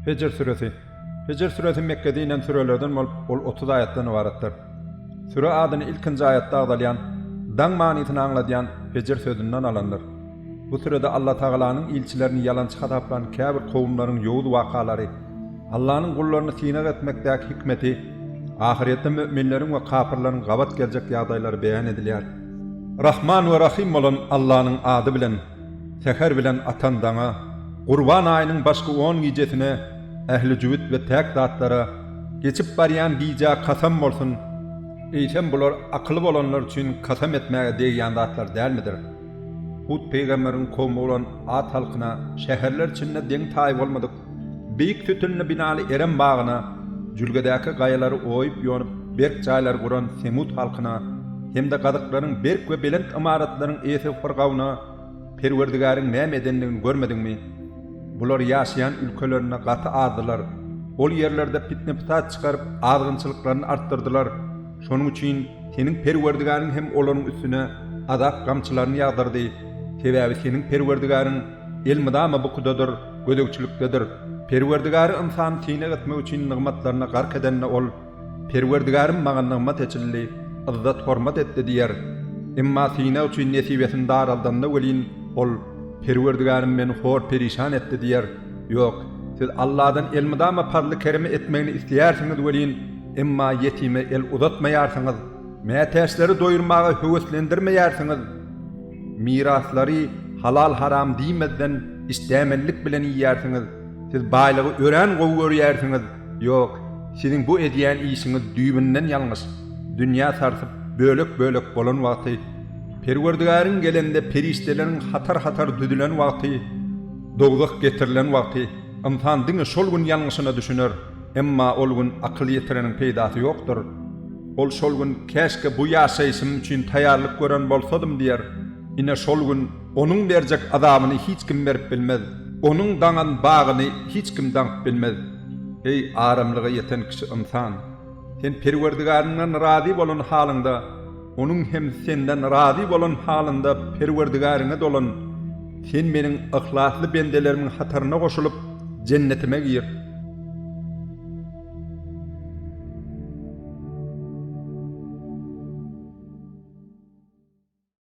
Hijr süresi. Hijr süresi Mekgede inen sürelerden bolup, ol otuz aýatdan ybaratdyr. Süre adyny ilkinji aýatda agzalýan, Daň manysyny aňladýan Hijr sözünden alandyr. Bu sürede Alla Tagalanyň ilçilerini ýalançy hasaplan käbir kowumlaryň ýowuz wakalary, Allanyň gullaryny synag etmekdäki hikmeti, ahyrýetde müminleriň we kapyrlaryň gabat geljek ýagdaýlary beýan edilýär. Rahman we Rahym bolan Allanyň ady bilen, säher bilen atan daňa, Gurban aýynyň başky on gijesine, ähli jübüt we päk zatlara, geçip barýan gijä kasam bolsun, eýsem bular akyly bolanlar üçin kasam etmäge degýän zatlar dälmidir? Hud pygamberiň kowmy bolan Ad halkyna, Şäherler içinde deň-taýy bolmadyk Beýik sütünli binaly Erem bagyna, jülgedäki gaýalary oýup-ýonup, berk jaýlar guran semud halkyna hem-de gazyklaryň berk we belent ymaratlaryň eýesi Firgawna Perwerdigäriň näme edendigini görmediňmi? Bular ýaşaýan ülkelerinde gaty azdylar. Ol ýerlerde pitne-pytat çykaryp, azgynçylyklaryny artdyrdylar. Şonuň üçin seniň Perwerdigäriň hem olaryň üstüne azap gamçylaryny ýagdyrdy. Sebäbi seniň Perwerdigäriň elmydama bukudadyr, gözegçilikdedir. Perwerdigary ynsany synag etmek üçin nygmatlaryna gark edende ol, Perwerdigarym maňa nygmat eçildi, yzzat-hormat etdi diýer. Emma synag üçin nesibesini daraldanda welin, ol, Perwerdigarym meni hor-perişan etdi diýer. Ýok, siz Alladan elmydama parzly-keremi etmegini isleýärsiňiz welin, emma ýetime el uzatmaýarsyňyz, mätäçleri doýurmaga höweslendirmeýärsiňiz. Miraslary halal-haram diýmezden işdämenlik bilen iýýärsiňiz. Siz baýlygy örän gowy görýärsiňiz. Ýok, siziň bu edýän işiňiz düýbünden ýalňyş. Dünýä sarsyp, bölek-bölek bolan wagty, Perwerdigäriň gelende perişdeleriň hatar-hatar düzülen wagty, dowzah getirilen wagty, ynsan diňe şol gün ýalňyşyna düşüner. Emma ol gün akyl ýetireniň peýdasy ýokdur. Ol şol gün Käşke bu ýaşaýşym üçin taýýarlyk gören bolsadym diýer. Ine şol gün onuň berjek azabyny hiç kim berip bilmez. Onuň daňan bagyny hiç kim daňyp bilmez. Eý, aramlyga ýeten kişi ynsan! Sen Perwerdigäriňden razy bolan halyňda, Onuň hem senden razy bolan halynda Perwerdigäriňe dolan, sen Meniň yhlasly bendelerimiň hataryna goşulyp, Jennetime gir.